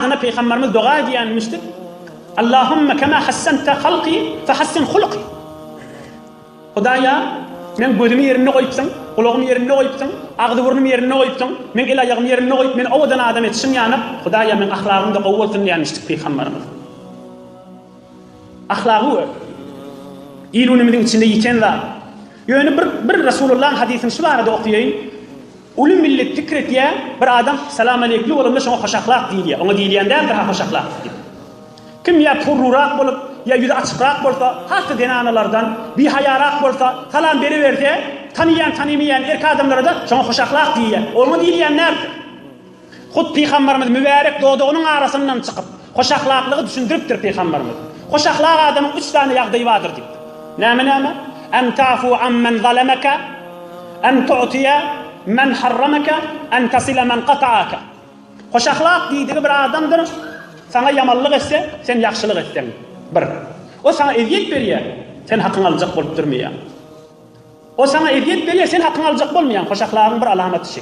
Ana Pygamberimiz doga edýänmişdir, Allahümme kema hassente halki fehassin hulki. Hudaýa, meň gözümi ýerinde goýupsyň, gulagymy ýerinde goýupsyň, agzy-burnumy ýerinde goýupsyň, meň el-aýagymy ýerinde goýup, meni owadan adam etişiň ýanyp, Hudaýa, meň ahlagym-da gowy bolsun diýänmişdik Pygamberimiz. Ahlagy we il-günümiziň içinde ýiten zat. Ýöne bir bir Resulullahyň hadysyny şu barada okaýaýyn, Uly millet pikir etýär, bir adam salamaleýkli bolanda şoňa hoşahlak diýilýär, oňa diýilýän däldir-ha hoşahlak diýip. Kim ýa purrurak bolup, ýa ýüzi açykrak bolsa, has-da zenanalardan, bihaýarak bolsa, salam beriberse, tanyýan-tanymaýan erkek adamlara-da şoňa hoşahlak diýilýär, oňa diýilýän närsa? Hut Pygambarymyz mübärek dodagynyň arasyndan çykyp, hoş ahlaklygy düşündiripdir Pygambarymyz. Hoş ahlak adamyň üç sany ýagdaýy bardyr diýip. Näme näme? En tafu an men zalemeke, en tu'tiye men harrameke, en tasile men kata'ake. Hoş ahlak diýdigi bir adamdyr, saňa ýamanlyk etse, sen ýagşylyk etseň, bir. O saňa ezýet berýär, sen hakyňy aljak bolup durmaýaň. Ol saňa ezýet berýär, sen hakyňy aljak bolmaýaň, hoşahlaryň bir alamaty şu.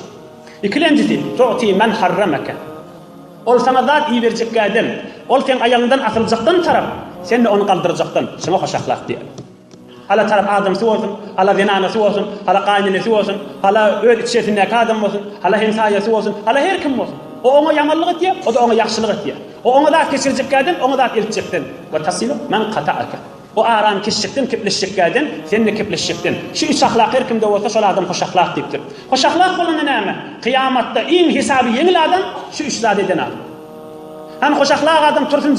Ikilenjisi, tu'ti men harrameke. Ol saňa zat iberjek ädem, ol seň aýagyňdan asyljakdan tarap, sen-de ony galdyrjakdan, şuňa hoşahlak diýer. Hala tarap adamsy bolsun, hala zenanasy bolsun, hala gaýynenesi bolsun, hala öz içerisindäki adam bolsun, hala hemsaýasy bolsun, hala her kim bolsun. O oňa ýamanlyk etýär, o-da oňa ýagşylyk etýär. O oňa zat geçirjek ädem, oňa zat eltjekden. Ve tasilu men kata'eke. Bu aram kişjikden kepleşjekkäden, sen-de kepleşjekden. Şu üç ahlak her kimde bolsa, şol adam hoşahlak diýipdir. Hoşahlak bolanda näme? Kyýamatda iň hesaby ýeňil adam, şu üç zat eden adam. Hany hoşahlak adam tursun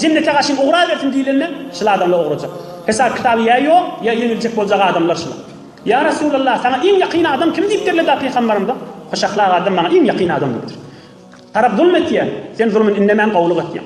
jennete gaşyn ugrabersin diýlende, şul adamlar ugrajak. Hesap-kitaby ýa ýok, ýa ýeňiljek boljak adamlar şular. Ýa Resulallah, saňa iň ýakyn adam kim diýip derledi-ä pygambarymyz? Hoşahlak adam maňa iň ýakyn adam diýipdir. Tarap zulm etýär, sen zulmyny indemän gowulyk etýäň.